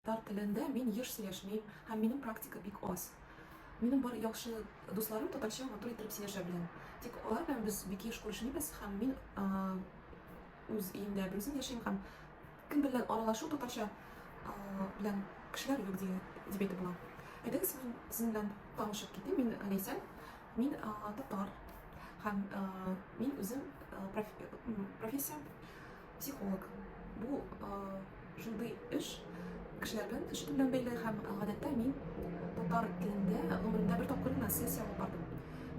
Татар телендә мин еш сөйләшмим һәм минем практика бик аз. Минем бар яхшы дусларым татарча матур иттереп сөйләшә белән. Тик алар белән без бик еш күрешмибез һәм мин үз өемдә берүзем яшим һәм кем белән аралашу татарча белән кешеләр юк дия, дип әйтеп була. Әйдәгез мин сезнең белән танышып китим. Мин Ләйсән, мин татар һәм мин үзем профессиям Психолог. Бу шундый эш, кешеләр белән төшенү белән бәйле һәм гадәттә мин татар телендә гомеремдә бер тапкыр гына сессия алып бардым.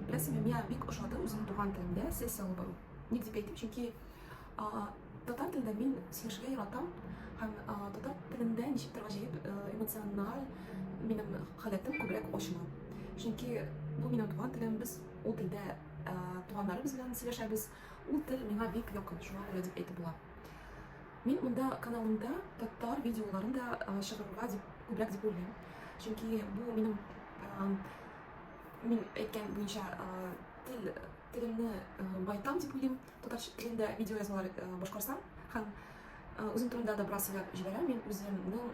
Беләсеңме, миңа бик ошады үземнең туган телемдә сессия алып бару. Ник дип әйтим, чөнки татар телендә мин сөйләшергә яратам һәм татар телендә ничектер гаҗәеп эмоциональ минем халәтем күбрәк ачыла. Чөнки бу минем туган телем, без ул телдә туганнарыбыз белән сөйләшәбез, Ул тел миңа бик якын, шуңа күрә дип әйтеп була. Мин монда каналымда татар видеоларын да чыгарырга дип күбрәк дип уйлыйм. Чөнки бу минем мин әйткән буенча тел телемне байтам дип уйлыйм. Татар телендә видео язмалар башкарсам һәм Үзем турында да бераз сөйләп җибәрәм. Мин үземнең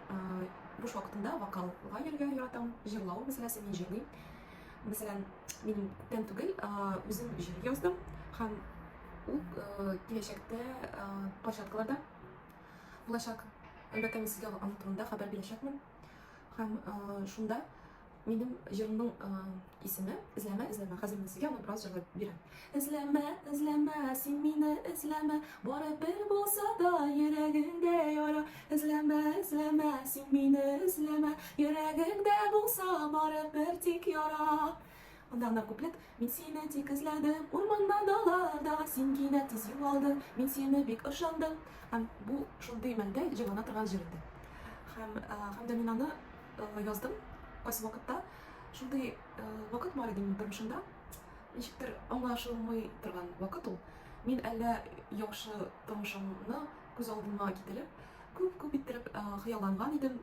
буш вакытымда вокалга йөрергә яратам. Җырлау мәсьәләсе мин җырлыйм. Мәсәлән, мин күптән түгел үзем җыр яздым һәм ул киләчәктә площадкаларда булачак. Әлбәттә, мин сезгә аның турында хәбәр бирәчәкмен. Һәм шунда минем җырымның исеме Эзләмә, эзләмә. Хәзер мин сезгә аны бераз җырлап бирәм. Эзләмә, эзләмә, син мине эзләмә, Барып бер булса да йөрәгеңдә яра. Эзләмә, эзләмә, син мине эзләмә, Йөрәгеңдә булса барып бер тик яра. Монда гына куплет. Мин сине тик эзләдем, урманда, далаларда, Син кинәт тиз югалдың, мин сине бик ышандым. Һәм бу шундый мәлдә җырлана торган җыр инде. Һәм, һәм дә мин аны яздым кайсы вакытта. Шундый вакыт бар иде минем тормышымда. Ничектер аңлашылмый торган вакыт ул. Мин әллә яхшы тормышымны күз алдыма китереп, күп-күп иттереп хыялланган идем,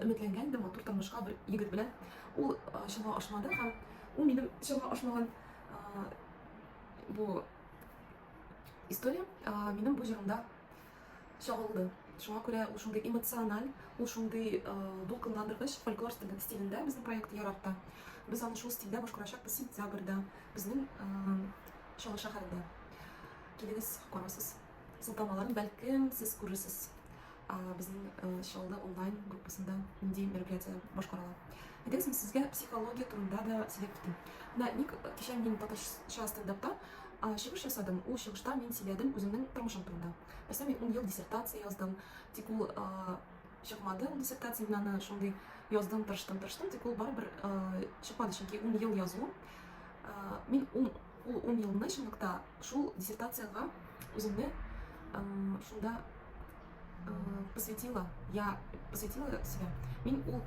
өметләнгән идем матур тормышка бер егет белән. Ул чама ашмады һәм ул минем чама ашмаган бу история минем бу җырымда чагылды. Шуңа күрә ул шундый эмоциональ, ул шундый дулкынландыргыч фольклор стилендә безнең проект ярата. Без аны шул стильдә башкарачакбыз сентябрьдә безнең Чаллы шәһәрендә. Килегез, карасыз. Сылтамаларын бәлкем сез күрерсез безнең Чаллы онлайн группасында нинди мероприятие башкарыла. Әйдәгез, мин сезгә психология турында да сөйләп китим. Менә ник кичә мин татарча стендапта Чыгыш ясадым. Ул чыгышта мин сөйләдем үземнең тормышым турында. Мәсәлән, мин ун ел диссертация яздым. Тик ул чыкмады, ул диссертация мин аны шундый яздым, тырыштым, тырыштым, тик ул барыбер чыкмады, чөнки ун ел язу. Мин ул ун елны чынлыкта шул диссертациягә үземне шунда э, посвятила, я посвятила себя. Мин ул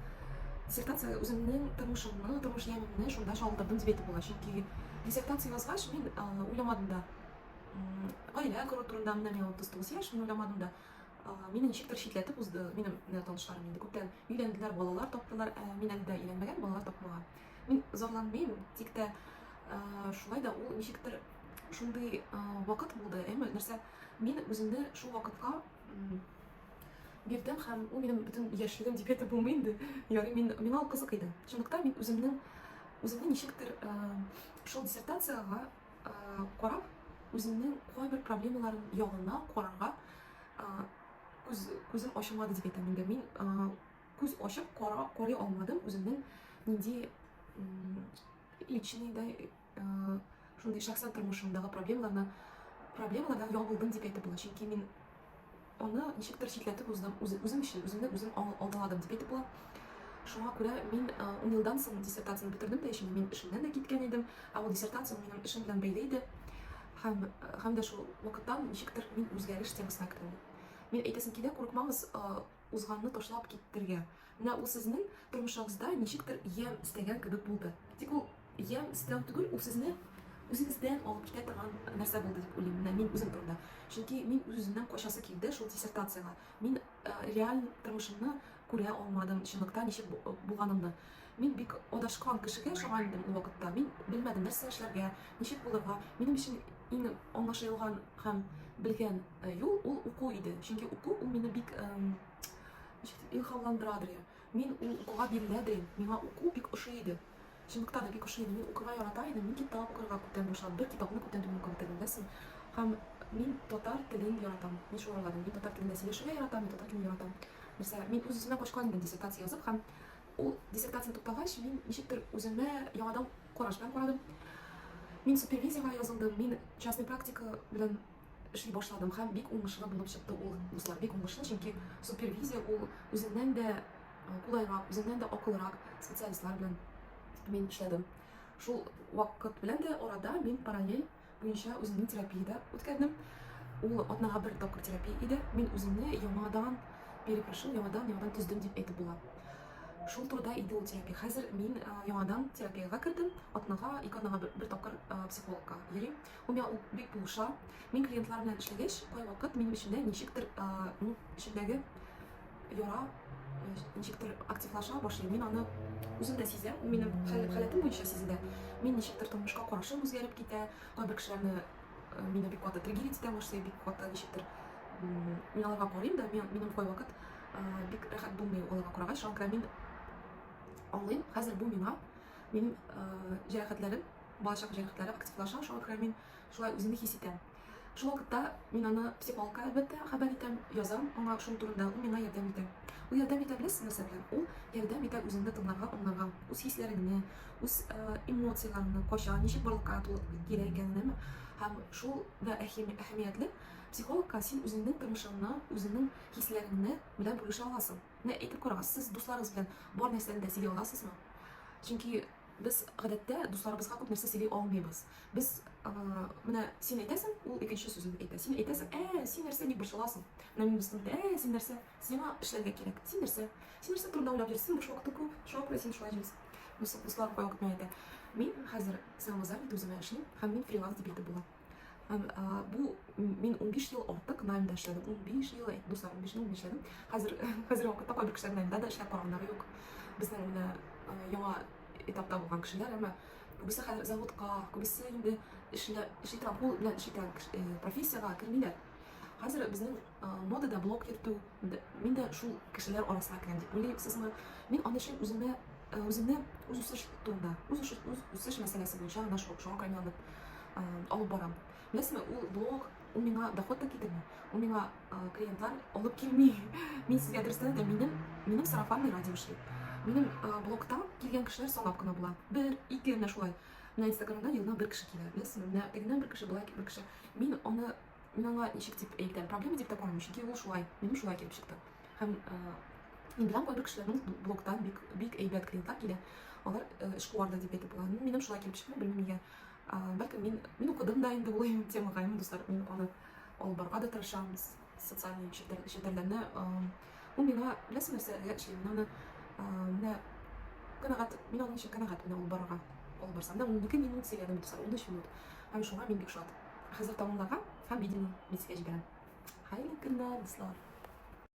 диссертация үземнең тормышымны, тормыш ямимне шунда чагылдырдым дип әйтеп була. Чөнки диссертация язгач мин э, уйламадым да. Гаилә кору турында менә мин 39 яшь, мин уйламадым да. Мине ничектер читләтеп узды минем э, танышларым инде. Күптән өйләнделәр, балалар таптылар, ә мин әле дә өйләнмәгән, балалар тапмаган. Мин зарланмыйм, тик тә шулай да ул ничектер шундый вакыт булды, әмма нәрсә Мин үземне шул вакытка бирдем һәм ул минем бөтен яшьлегем дип әйтеп булмый инде. Ягъни мин миңа ул кызык иде. Шунлыктан мин үземнең үземне ничектер э, шул диссертациягә э, карап, үземнең кайбер проблемаларым ягына карарга э, күз күзем ачылмады дип әйтәм инде. Мин күз ачып кара карый алмадым үземнең нинди личный да шундый шәхсән тормышымдагы проблемаларны проблемалардан ял булдым дип әйтеп була чөнки мин аны ничектер читләтеп уздым үзем өчен үземне үзем алдаладым дип әйтеп була шуңа күрә мин ун елдан соң диссертацияне бетердем дә өчен мин эшемнән дә киткән идем ә ул диссертация минем эшем белән бәйле иде һәм һәм дә шул вакыттан ничектер мин үзгәреш темасына кердем мин әйтәсем килә курыкмагыз узганны ташлап китергә. Менә ул сезнең тормышыгызда ничектер ямь эстәгән кебек булды. Тик ул ямь эстәү түгел, ул сезне үзегездән алып китә торган нәрсә булды дип уйлыйм. Менә мин үзем турында. Чөнки мин үз-үземнән качасы килде шул диссертациягә. Мин э, реаль тормышымны күрә алмадым, чынлыкта ничек булганымны. Мин бик адашкан кешегә ошаган идем ул вакытта. Мин белмәдем, нәрсә эшләргә, ничек булырга. Минем өчен иң аңлашылган һәм белгән э, юл ул уку иде. Чөнки уку ул мине бик эм, ничек дип, илһамландырадыр. я. Мин ул укуга бирелә дә идем. Миңа уку бик ошый иде. Чынлыкта да бик ошый иде. Мин укырга ярата идем. Мин китап укырга күптән башладым. Бер китапны күптән түгел укып бетердем, беләсең. Һәм мин татар телен яратам. Мин шуны уйладым. Мин татар телендә сөйләшергә яратам, мин татар телен яратам. Нәрсә, мин үз-үземә качкан идем диссертация язып һәм Ул диссертация туктагач, мин ничектер үземә яңадан караш белән карадым. Мин супервизиягә язылдым, мин частный практика белән эшли башладым һәм бик уңышлы булып чыкты ул дуслар. Бик уңышлы, чөнки супервизия ул үзеннән дә кулайрак, үзеннән дә акылрак специалистлар белән мин эшләдем. Шул вакыт белән дә арада мин параллель буенча үземне терапиядә үткәрдем. Ул атнага бер тапкыр терапия иде. Мин үземне яңадан перекрашым, яңадан яңадан төздем дип әйтеп була. Шул турыда иде ул терапия. Хәзер мин яңадан терапиягә кердем. Атнага, ике атнага бер, бер тапкыр психологка йөрим. Ул миңа ул бик булыша. Мин клиентлар белән эшләгәч, кайвакыт минем эчемдә ничектер, ну, эчемдәге яра ничектер активлаша башлый мин аны үзем дә сизәм ул минем халәтем буенча сизелә мин ничектер тормышка карашым үзгәреп китә кайбер кешеләрне мине бик каты триггерить итә башлый бик каты ничектер мин аларга карыйм да мин, минем кайвакыт бик рәхәт булмый аларга карагач шуңа мин аңлыйм хәзер бу миңа минем җәрәхәтләрем балачак җәрәхәтләре активлаша шуңа күрә мин шулай үземне хис итәм Шул вакытта мин аны психологка, әлбәттә, хәбәр итәм, язам аңа шул турында, ул миңа ярдәм итә. Ул ярдәм итә беләсез нәрсә белән? Ул ярдәм итә үзеңне тыңларга, аңларга, үз хисләреңне, үз эмоцияләреңне, кача, ничек барлыкка килә икәнен, һәм шул да әһәмиятле, психологка син үзеңнең тормышыңны, үзеңнең хисләреңне белән бүлешә аласың. Менә әйтеп карагыз, сез дусларыгыз белән бар нәрсәне дә сөйли аласызмы? Чөнки Без, гадәттә, дусларыбызга күп нәрсә сөйли алмыйбыз. Без, Менә син әйтәсең, ул икенче сүзен әйтә. Син әйтәсең, Ә, син нәрсә, ник борчыласың? Менә минем дустым әйтә, Ә, син нәрсә, сиңа эшләргә кирәк. Син нәрсә? Син нәрсә турында уйлап йөрисең? Син буш вакытың күп, шуңа күрә син шулай җөрисең. Дуслар кайвакыт миңа әйтә, Мин хәзер самовоззанятый үземә эшлим һәм мин фриланс дип әйтеп була. Һәм ә, бу мин 15 ел артык наймда эшләдем. 15 ел, дуслар, 15 ел эшләдем. Хәзер хәзер вакытта кайбер кешеләр наймда да эшләп караганнары юк. Безнең менә яңа этапта булган кешеләр, әмма күбесе хәзер заводка, күбесе инде эшләп эшли торган, кул белән эшли торган профессиягә кермиләр. Хәзер безнең модада блог йөртү, мин дә шул кешеләр арасына керәм дип уйлыйсызмы? Мин аны өчен үземә үземне үз үсеш турында, үз үсеш, үз үсеш мәсьәләсе буенча гына шуңа кайнанып алып барам. Беләсезме, ул блог, ул миңа доход та китерми, ул миңа клиентлар алып килми. Мин сезгә дөрестән дә минем, минем сарафанный радио эшли. Минем блогта килгән кешеләр санап кына була. Бер, ике менә шулай. Менә инстаграмда елына бер кеше килә, беләсезме? Менә тегеннән бер кеше, болай бер кеше. Мин аны мин аңа ничек дип әйтәм, проблема дип тә карамыйм, чөнки ул шулай, минем шулай килеп чыкты. Һәм мин беләм кайбер кешеләрнең блоктан бик бик әйбәт клиентлар килә. Алар эшкуар да дип әйтеп була. Минем шулай килеп чыкты, белмим нигә. Бәлки мин мин укыдым да инде ул темага, имин дуслар, мин аны алып барырга да тырышамыз. Социальный челтәрләрне ул миңа беләсең нәрсә әлегә эшли мин аны менә канәгать мин аның өчен канәгать менә ул барырга ул барса менә ундике минут сөйләдем дуслар унөч минут һәм шуңа мин бик шат хәзер тәмамлаган һәм видеоны митскә җибәрәм хәерле көннәр дуслар